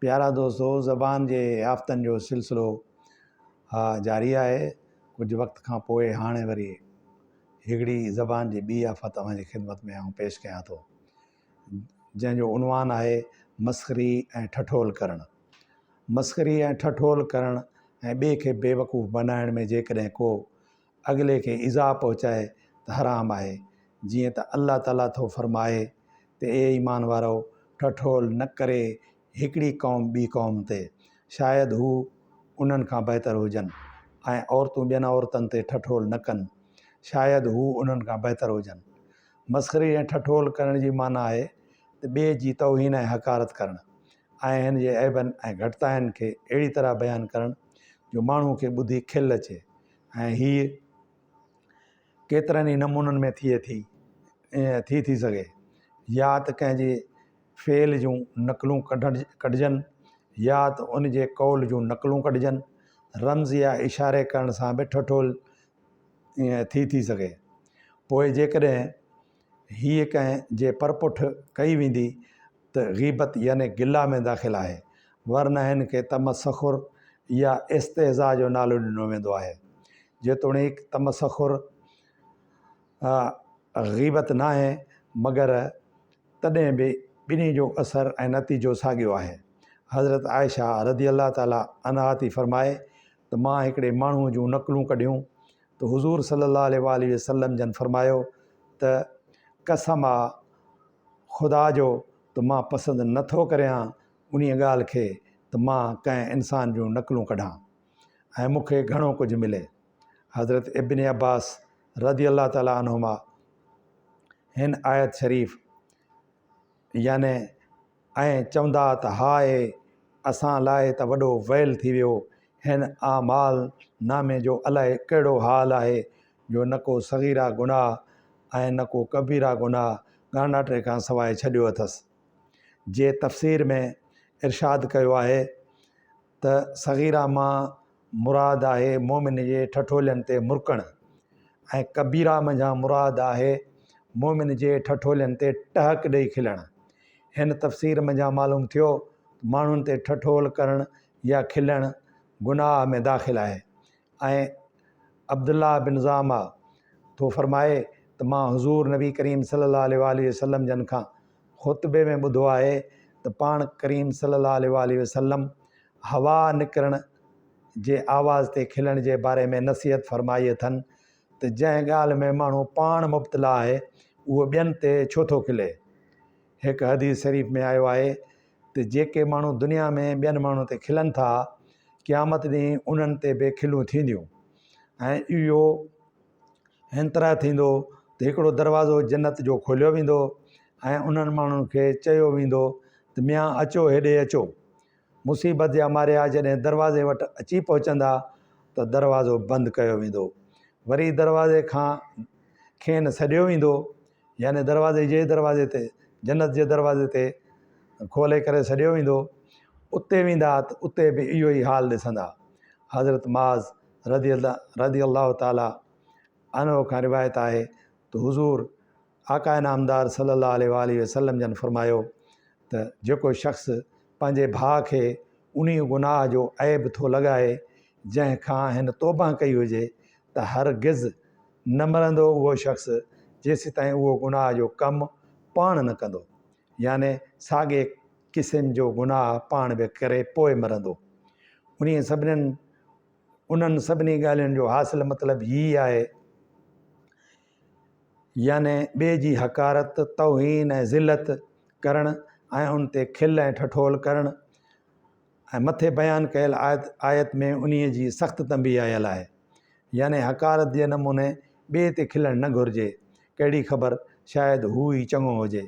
پيارا دوستو زبان جي آفتن جو سلسلو ها جاري آهي ڪجهه وقت کان پوء هاڻي وري هڪڙي زبان جي ٻي آفت اوهان جي خدمت ۾ آئون پيش ڪيان ٿو جنهن جو عنوان آهي مسخري ۽ ٺٺول ڪرڻ مسخري ۽ ٺٺول ڪرڻ ۽ ٻئي کي بيوقوف بنائڻ ۾ جيڪڏهن ڪو اڳلي کي ايذاء پهچائي ته حرام آهي، جيئن ته الله تعاليٰ ٿو فرمائي ته اي ايمان وارؤ! ٺٺول نه ڪري هڪڙي قوم ٻي قوم تي، شايد هو انهن کان بهتر هجن، ۽ عورتون ٻين عورتن تي ٺٺول نه ڪن، شايد هو انهن کان بهتر هجن. مسخري ۽ ٺٺول ڪرڻ جي معنيٰ آهي ته ٻئي جي توهين ۽ حقارت ڪرڻ، ۽ هن جي عيبن ۽ گهٽتاين کي اهڙي طرح بيان ڪرڻ جو ماڻهوء کي ٻڌي کل اچي. ۽ هيء ڪيترن ئي نمونن ۾ ٿئي ٿي ۽ ٿي ٿي سگهي. يا ته ڪنهن جي فعل جون نقلون ڪڍجن يا ته ان جي قول جون نقلون ڪڍجن. رمز يا اشاري ڪرڻ سان به ٺٺول ٿي ٿي سگهي. پوء جيڪڏهن هيء ڪنهن جي پرپٺ ڪئي ويندي ته غيبت يعني گلا ۾ داخل آهي، ورنه هن کي تمسخر يا استهزاء جو نالو ڏنو ويندو آهي. جيتوڻيڪ تمسخر غيبت ناهي، مگر تڏهن به ٻنهي جو اثر ۽ نتيجو ساڳيو آهي. حضرت عائشه رضي الله تعالٰي عنها ٿي فرمائي ته مان هڪڙي ماڻهوء جون نقلون ڪڍيون، ته حضور صلي الله عليه واٰله وسلم جن فرمايو ته قسم آ خدا جو ته مان پسند نه ٿو ڪريان انهيء ڳالهه کي ته مان ڪنهن انسان جون نقلون ڪڍان ۽ مون کي گهڻو ڪجهه ملي. حضرت ابن عباس رضي الله تعالٰي عنهما هن آيت شريف يعني ائين چوندا ته هاء اسان لاء ته وڏو ويل ٿي ويو، هن اعمال نامي جو الائي ڪهڙو حال آهي جو نه ڪو صغيره گناهه ۽ نه ڪو ڪبيره گناهه ڳانڍاٽي کان سواء ڇڏيو اٿس. جي تفسير ۾ ارشاد ڪيو آهي ته صغيره مان مراد آهي مؤمن جي ٺٺولين تي مرڪڻ ۽ ڪبيره منجهان مراد آهي مؤمن جي ٺٺولين تي ٽهڪ ڏئي کلڻ. هن تفسير منجهان معلوم ٿيو ته ماڻهن تي ٺٺول ڪرڻ يا کلڻ گناهه ۾ داخل آهي ۽ عبدالله بن ضعمه ٿو فرمائي ته مان حضور نبي ڪريم صلي الله عليه واٰله وسلم جن کان خطبي ۾ ٻڌو آهي ته پاڻ ڪريم صلي الله عليه واٰله وسلم هوا نڪرڻ جي آواز تي کلڻ جي باري ۾ نصيحت فرمائي اٿن ته جنهن ڳالهه ۾ ماڻهو پاڻ مبتلا آهي اهو ٻين تي ڇو ٿو کلي هڪ حديث شريف ۾ آيو آهي ته جيڪي ماڻهو دنيا ۾ ٻين ماڻهن تي کلن ٿا قيامت ڏينهن انهن تي به کلون ٿينديون ۽ اهو هن طرح ٿيندو ته هڪڙو دروازو جنت جو کوليو ويندو ۽ انهن ماڻهن کي چيو ويندو ته ميان اچو هيڏي اچو مصيبت جا ماريا جڏهن دروازي وٽ اچي پهچندا ته دروازو بند ڪيو ويندو وري دروازي کان کين سڏيو ويندو يعني دروازي جي دروازي تي جنت جي دروازي تي کولي ڪري سڏيو ويندو اتي ويندا ته اتي به اهو ئي حال ڏسندا حضرت معاذ رضي الله رضي الله تعالٰي عنه کان روايت آهي ته حضور آقا نامدار صلي الله عليه وآله وسلم جن فرمايو ته جيڪو شخص پنهنجي ڀاء کي انهي گناهه جو عيب ٿو لڳائي جنهن کان هن توبه ڪئي هجي ته هرگز نه مرندو اهو شخص جيسيتائين اهو گناهه جو ڪم پاڻ نه ڪندو، يعني ساڳئي قسم جو گناهه پاڻ به ڪري پوء مرندو. انهي سڀنين انهن سڀني ڳالهين جو حاصل مطلب هي آهي، يعني ٻئي جي حقارت، توهين ۽ ذلت ڪرڻ ۽ ان تي کل ۽ ٺٺول ڪرڻ، ۽ مٿي بيان ڪيل آيت ۾ انهي جي سخت تنبيهه آيل آهي. يعني حقارت جي نموني ٻئي تي کلڻ نه گهرجي، ڪهڙي خبر شايد هو ئي چڱو هجي.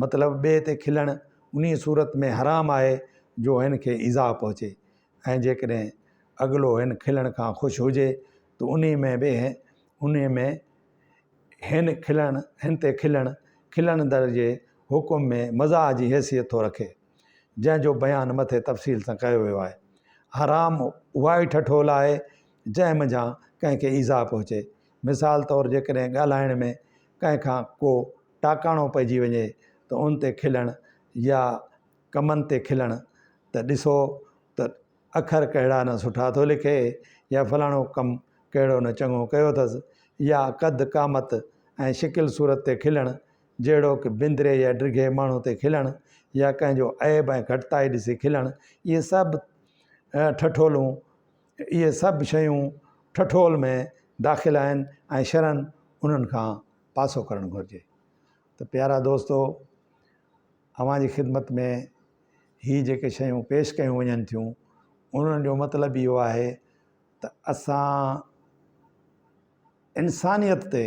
مطلب ٻئي تي کلڻ انهي صورت ۾ حرام آهي جو هن کي ايذاء پهچي ۽ جيڪڏهن اڳلو هن کلڻ کان خوش هجي ته انهي ۾ به انهي ۾ هن کلڻ هن تي کلڻ کلڻ در جي حڪم ۾ مزاح جي حيثيت ٿو رکي. جنهن جو بيان مٿي تفصيل سان ڪيو ويو آهي. حرام اها ئي ٺٺول آهي جنهن منجهان ڪنهن کي ايذاء پهچي. مثال طور جيڪڏهن ڳالهائڻ ۾ ڪنهن کان ڪو ٽاڪاڻو پئجي وڃي ته ان تي کلڻ يا ڪمن تي کلڻ ته ڏسو ته اکر ڪهڙا نه سٺا ٿو لکي يا فلاڻو ڪم ڪهڙو نه چڱو ڪيو اٿس يا قد قامت ۽ شڪل صورت تي کلڻ جهڙوڪ، بندري يا ڊگهي ماڻهو تي کلڻ يا ڪنهن جو عيب ۽ گهٽتائي ڏسي کلڻ، اهي سڀ ٺٺولون، اهي سڀ شيون ٺٺول ۾ داخل آهن ۽ شرعن انهن کان پاسو ڪرڻ گهرجي. ته پيارا دوستو! اوهان جي خدمت ۾ هي جيڪي شيون پيش ڪيون وڃن ٿيون، انهن جو مطلب اهو آهي ته اسان انسانيت تي،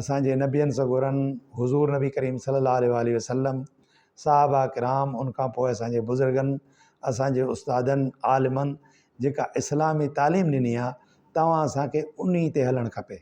اسان جي نبين سڳورن حضور نبي ڪريم صلي الله عليه وآله وسلم، صحابه ڪرام ان کان پوء اسان جي بزرگن، اسان جي استادن، عالمن جيڪا اسلامي تعليم ڏني آ توهان اسان کي انهي تي هلڻ کپي.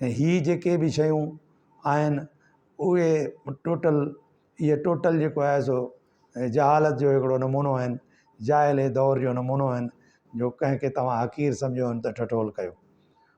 ۽ هي جيڪي به شيون آهن اهي ٽوٽل اهي ٽوٽل جيڪو آهي سو جهالت جو هڪڙو نمونو آهن، جاهلي دور جو نمونو آهن جو ڪنهن کي توهان حقير سمجهيو ته ٺٺول ڪيو.